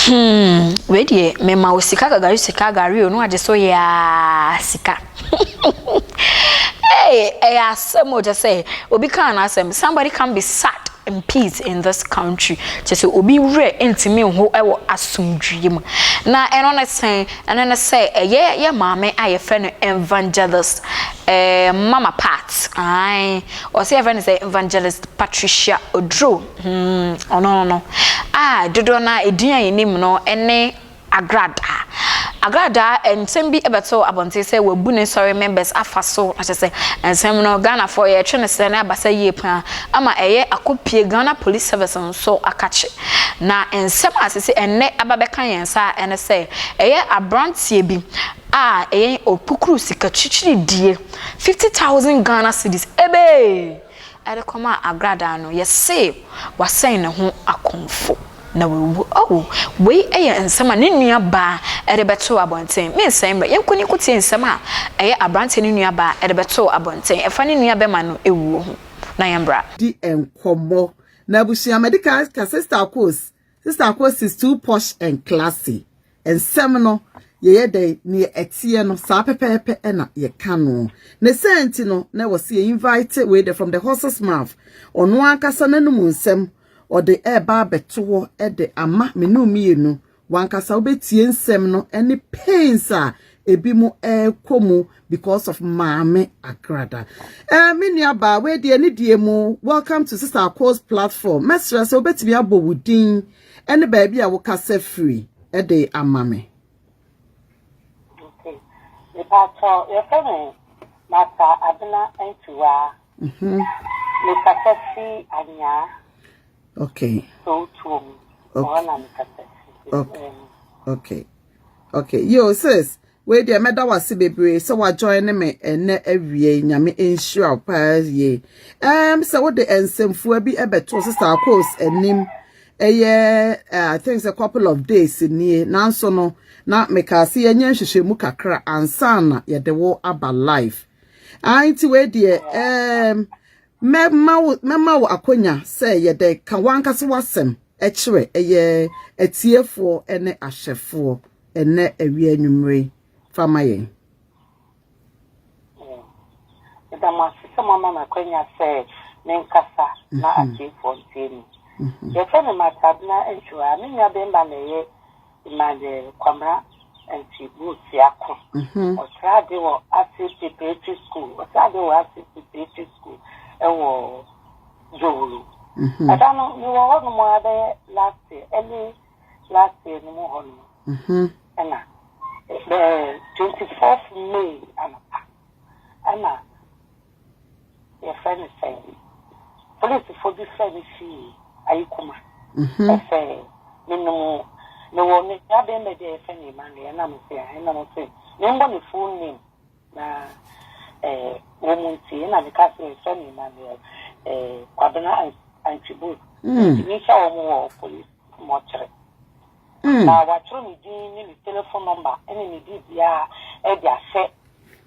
Hmm, wei deɛ mema wo sika gagari sika gari o no agye so yɛ aa sika ɛyɛ asɛm o kyɛ sɛ obi kaa n'asɛm somebody can be sad in peace in this country kyerɛ sɛ obi werɛ ntumi nho wɔ asomdwie mu na ɛno ne sɛn ɛno ne sɛ ɛyɛ yɛ maame a yɛfrɛ no evangelist eh, mama part ae ɔsɛ yɛfrɛ no sɛ evangelist Patricia Oduro hmm, ɔno no a dodoɔ no a ɛdin a yɛnim no ɛne agradaa. Agradaa, nsɛm bi bɛtoo abɔnten sɛ wɔabu ne sɔre members afa so, na kyerɛ sɛ nsɛm no Ghanafoɔ yɛretwe no sɛ na abasa yie pa ara ama ɛyɛ akɔpue Ghana Police Service nso akakye. Na nsɛm a sese ɛnnɛ aba bɛka yɛn nsa ara ne sɛ ɛyɛ aberanteɛ bi a ɛyɛ ɔkukuru sika kyikyiridie, fifty thousand Ghana cedis, ebee! de kɔmaa agradaa no, yɛsee, Wɔasɛn ne ho akɔmfo, na wawu. Oh, wei yɛ nsɛm a ne nuabaa de bɛtoo abɔnten. Me nsɛe mmerɛ. Yɛnkɔ ne nkɔtie nsɛm a ɛyɛ aberanteɛ no nuabaa de bɛtoo abɔnten ɛfa ne nuabɛma no wuo ho, na yɛmmra. Di nkɔmmɔ. Na abusua, madi kan ka Sista Coles. Sister Kos is too posh and classy. Nsɛm no, yɛyɛ dɛn, neɛ ɛteɛ no, saa pɛpɛɛpɛ na yɛka no. Ne sɛ nti no, na ɛwɔ sɛ yɛ invite wei de from the horse's mouth. Ɔno ankasa n'anum nsɛm, ɔde ɛreba abɛto hɔ de ama me ne wo mmienu. Wankasa wobɛtie nsɛm no ne pains a ebi mu ɛrekɔ mu because of maame agrada eh me nua ba we die ne die mu welcome to sister ako's platform mɛsrɛ sɛ wobɛtumi abɔ wo din ɛne baabi a wokasa firi ɛde ama me mepatɔ yɛfɛ me masa abena ntiwa mhm. mekasa fi anyaa okay so tuo mu okay. okay okay okay yo sis Wei deɛ mɛda wase bebree sɛ wa join ne me ɛnɛ awie nyame nhyira wo paa yie ɛm sɛ wode nsɛmfua bi ɛbɛto sesa akos anim ɛyɛ eh, I think a couple of days nie nanso no na meka ase yɛnyɛ nhwehwɛmu kakra ansa na yɛde wo aba live anti wei deɛ ɛm mɛma wo mɛma wo akonya sɛ yɛde ka wankasa wasɛm ɛkyerɛ ɛyɛ atiefoɔ ɛne ahwɛfoɔ ɛnɛ awia anwummere fa ma yɛn. Meda mo ase sɛ moama me akwanya sɛ menkasa mhm. na atiefoɔ ntie me. Mhm. Yɛfrɛ me Matabena Ntwerɛ a me nua bɛmba na ɛyɛ Emmanuel Kwamra Ntibu Siako. Mhm. Ɔkyerɛ ade wɔ Ase Preparatory School. Ɔkyerɛ ade wɔ Ase Preparatory School ɛwɔ Dwowuro. Ɛda no mewɔ hɔ nom a bɛyɛ last year, early last year no mu hɔ no mu ɛna the twenty fourth may anapa ɛna yɛfrɛ no sɛ polisifo bi fɛ ne fie ayi kuma ɛsɛ menom mewɔ me abɛn bɛ deɛ yɛfɛ ne ma no yɛnam sɛ ɛnam sɛ membɔ ne full name Na eh, wo mu nti na meka sɛ sɛ me Emmanuel eh, Kwabena Antwibu ntumi nhyɛ wɔn wɔ polisi mɔkyere. Mm. Na wɔatwerɛ me din ne me telefon nɔmba ne me biribiara de ahyɛ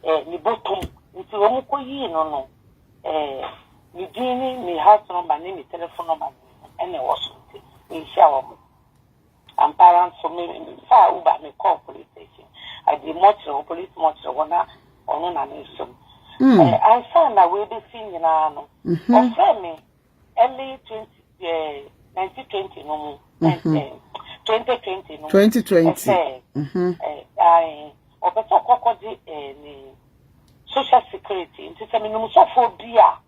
eh, ne bɔtom. Nti wɔn kɔyii no no, eh, me din ne me house nɔmba ne me telefon nɔmba na ɛwɔ so nti menhyia wɔn. Ampa ara nso, me faa Uber me kɔɔ police station. I did mɔkyerɛ hɔ, police mɔkyerɛ hɔ na ɔno na me som. Mm. Eh, ansa na wei bɛsi nyinaa no, mm -hmm. ɔfrɛ me early 20, eh, 1920 no mu, mm -hmm. eh, 2020 no mu. 2020. Ɛsɛ, mm -hmm. eh, eh, ɔpɛ sɛ ɔkɔkɔgye eh, ne social security, nti sɛ menom sɔfoɔ bi a,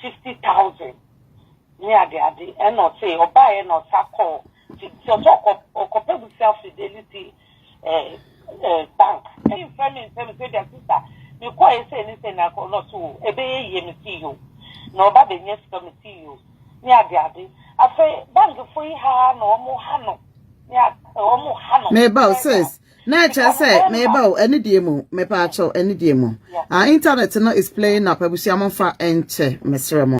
fifty thousand ne ade ade ɛna ɔse ɔbaeɛ na ɔsa kɔɔ ti ti ɔsɛ ɔkɔ ɔkɔpɛ busia fidelity ɛɛ ɛɛ bank ɛyi nfɛ mi nsɛm sɛ bia sista mi kɔ yɛ sɛ ne sɛ na kɔ na ɔso o ebe yɛ yie mi si yio na ɔba bɛ nyɛ sika mi si yio ne ade ade afɛ bank fo yi ha na ɔmo ha no ne a ɔmo ha no. meba o sis Na ɛkyerɛ sɛ meba o anidie mu mepaakyɛw anidie mu ah internet no is playing up abusua mo nfa nkyɛ mesrɛ mo.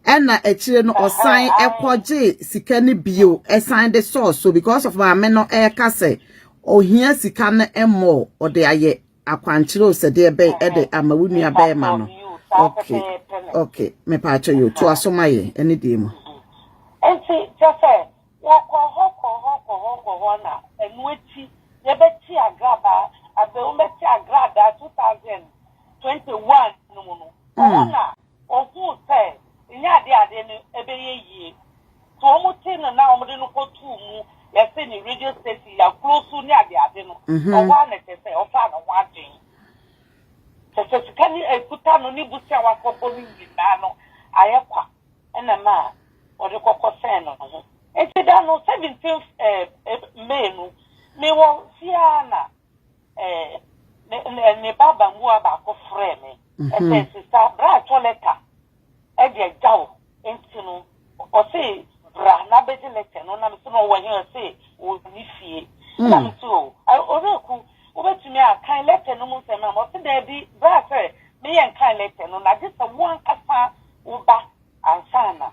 Ɛna akyire no ɔsan ɛkɔgye sika no bio ɛsan de sɔɔ so because of maame no ɛka sɛ ohia sika no mmɔɔ ɔde ayɛ akwankyerɛ o sɛdeɛ bɛn ɛde ama wo nua bɛɛma no okay okay mepaakyɛw yo to aso ma yɛ anidie mu. Nti kyɛ sɛ Wɔkɔ hɔ kɔ hɔ kɔ hɔ kɔ hɔ na ɛno akyi yɛbɛte agrabaa Abeum bɛte agradaa 2021 no mu no, ɛhɔ na wɔhuu sɛ ɛnyɛ adeɛ a adeɛ no ɛbɛyɛ yie. Nti wɔte no na wɔde no kɔtoo mu, yɛse ne radio station, Yakulo so ne ade ade no, ɛhɔ ara na kyerɛ sɛ wɔfaa ne ho adwene. Kyerɛ sɛ sika no ɛkuta no ne bosea a wɔakɔbɔ no nyinaa no ayɛ kwa. na ɛma ɔde kɔkɔ sɛn ne ho. Enti da no, seventeenth May no, mewɔ fie ara na ne ba abamuwa baako frɛɛ me. Ɛsɛ sista, bra atɔ lɛta de agya wo. Enti no, ɔse bra na bɛgye lɛta no. Na mese no, ɔwɔ he? Ɔse ɔnni fie. Na mese o, Owuraku, wobɛtumi akan lɛta no mu nsɛm ama me? Ɔse daabi, bra sɛ meyɛ nkan lɛta no, na gye sɛ wo ankasa Wo ba ansa na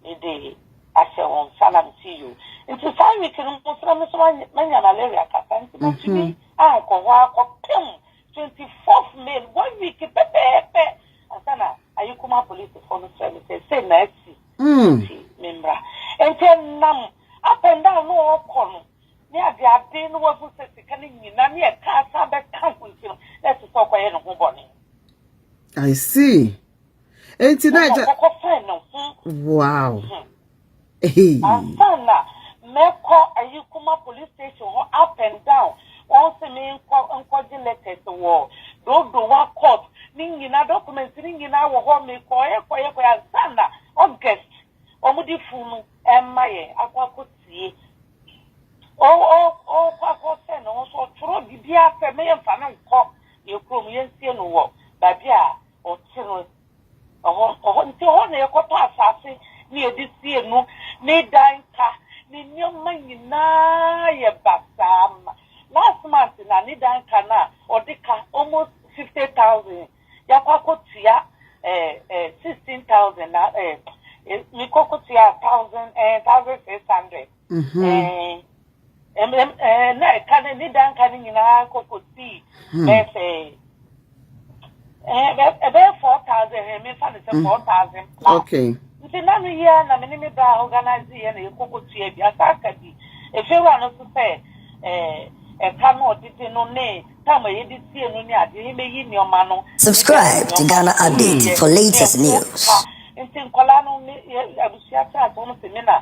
me de ahyɛ wo nsa na me si you. Nti saa week no mo sra me so manya malaria kasa nti ma tumi ankɔ hɔ akɔ pem 24th May no one week pɛpɛɛpɛ ansa na ayi kuma polisi fo no sra me sɛ sɛ na asi nti me mmra nti nam up and down no ɔkɔ no ne ade ade no wahu sɛ sika no nyina ne ɛka asa bɛka ho nti no na ɛsɛ sɛ ɔkɔyɛ ne ho bɔne I see Enti na agya. Kɔkɔ fɛn ne ho. Wow. Ansan na mɛkɔ ayi kuma police station hɔ up and down. Wɔn se me nkɔ nkɔgye letters wɔ dodowa court. Ne nyinaa documents ne nyinaa wɔ hɔ. Me kɔɛ kɔɛ kɔɛ ansan na August wɔn de fun no ɛmma yɛn akɔ akɔ tie. O o o kɔ akɔ fɛn ne ho so ɔtwerɛ biribi asɛ meyɛ mfa no nkɔ yɛ kurom yɛnsie no wɔ baabi a Ɔte no hɔ hɔ nti hɔ na yɛkɔtɔ asase na yɛde sie no ne dan ka ne nneɛma nyinaa yɛ basaa ma last month na ne dan ka no a ɔde ka almost fifty thousand yɛakɔ akɔtua ɛɛ sixteen thousand na ɛɛ mekɔ kɔtua thousand ɛɛ thousand six hundred. Mm-hmm. Eh, na ɛka no ne da nka no nyinaa kɔkɔsii bɛɛ sɛ ɛbɛyɛ four thousand ɛ mefa no sɛ four thousand plus okay nti na no yia na me ne me ba organise yɛ na yɛkɔkɔtua bi asa aka bi ɛfewura no so sɛ ɛka no ɔdede no ne tam a yɛde sie no ne adeɛ yɛmɛyi nneɛma no subscribe to Ghana update for latest news nti nkɔla no abusua kyɛ asɛ wɔn sɛ me na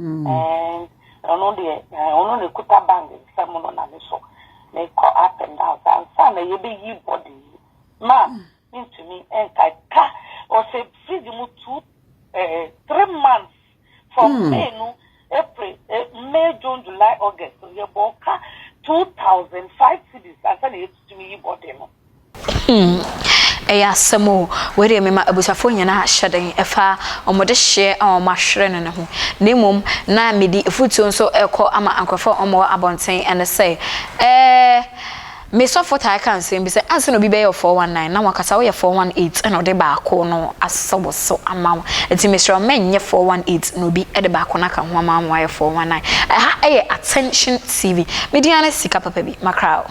Ɔno deɛ ɔno na ekuta bag nsam no na ne so mekɔ up and down saa nsa na yɛbɛyi body yi ma mentumi nka ka ɔsɛ fridge mu two eh, three months from hmm. May no April eh, May June July August yɛbɔ ka two thousand five cities ansa na yɛtumi yi body no. Hmm, ɛyɛ asɛm o. Wei deɛ mema abusuafoɔ nyinaa ahyɛ den ɛfa wɔn dehyeɛ a wɔn ahwere no no ho. Na mmom na mede afutuo nso rekɔ ama nkorɔfoɔ a wɔwɔ abɔnten ɛne sɛ, ɛɛ, me sɔfo taa ka nsɛm bi sɛ, ansa na obi bɛyɛ wo 419 na wankasa woyɛ 418 ɛna ɔde baako no asɔ wo so ama wo. Nti mesrɛ wo mɛnyɛ 418 na obi de baako no aka ho ama wo ama woayɛ 419. Ɛha yɛ Attention TV. Me din ara ne sika papa bi, makra o.